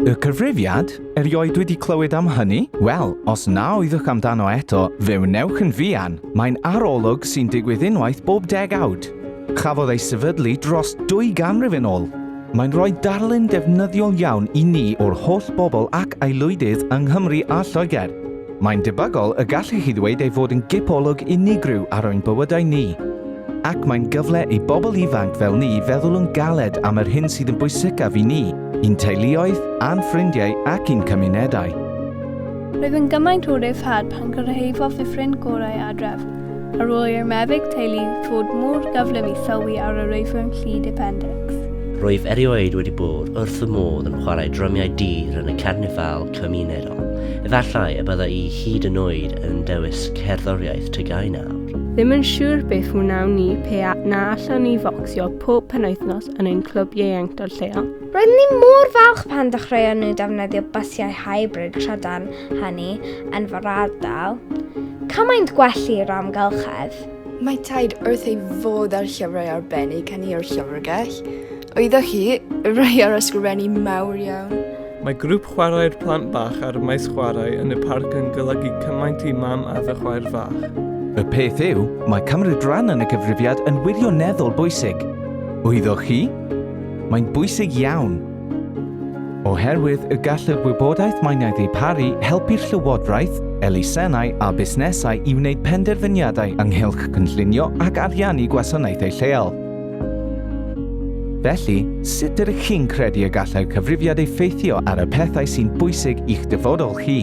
Y cyfrifiad? Erioed wedi clywed am hynny? Wel, os na oeddwch amdano eto, fe wnewch yn fuan. Mae'n arolwg sy'n digwydd unwaith bob degawd. Chafodd ei sefydlu dros dwy ganrif yn ôl. Mae'n rhoi darlun defnyddiol iawn i ni o'r holl bobl ac aelwydydd yng Nghymru a Lloegr. Mae'n debygol y gallu hi ddweud ei fod yn gip olwg unigryw ar ein bywydau ni, ac mae'n gyfle i bobl ifanc fel ni feddwl yn galed am yr hyn sydd yn bwysicaf i ni, i'n teuluoedd, a'n ffrindiau ac i'n cymunedau. Roedd yn gymaint o ryddhad pan gyrhaeddodd y ffrind gorau adref, ar ôl i'r meddyg teulu ddod mor gyflym i sylwi ar yr oedran llid apendics. Rwyf erioed wedi bod wrth fy modd yn chwarae drymiau dur yn y carnifal cymunedol. bobl. Efallai y bydda i hyd yn oed yn dewis cerddoriaeth tygau nawr. Ddim yn siŵr beth wnawn ni pe a na allwn ni focsio pob penwythnos yn ein clwb ieuenctod lleol. Roeddwn ni mor falch pan dechreuon nhw defnyddio bysiau hybrid trydan hynny yn fy ardal. Cymaint gwell i'r amgylchedd. Mae taid wrth ei fodd â'r llyfrau arbennig hynny o'r llyfrgell. Oeddech chi, rei ar ysgrifennu mawr iawn. Mae grŵp chwarae'r plant bach ar y maes chwarae yn y parc yn golygu cymaint i mam a fy chwaer fach. Y peth yw, mae cymryd rhan yn y cyfrifiad yn wirioneddol bwysig. Oeddech chi? Mae'n bwysig iawn. Oherwydd y gall y gwybodaeth mae'n ei ddiparu helpu'r llywodraeth, elusennau a busnesau i wneud penderfyniadau ynghylch cynllunio ac ariannu gwasanaethau lleol. Felly, sut ydych chi'n credu y gallai'r cyfrifiad effeithio ar y pethau sy'n bwysig i'ch dyfodol chi?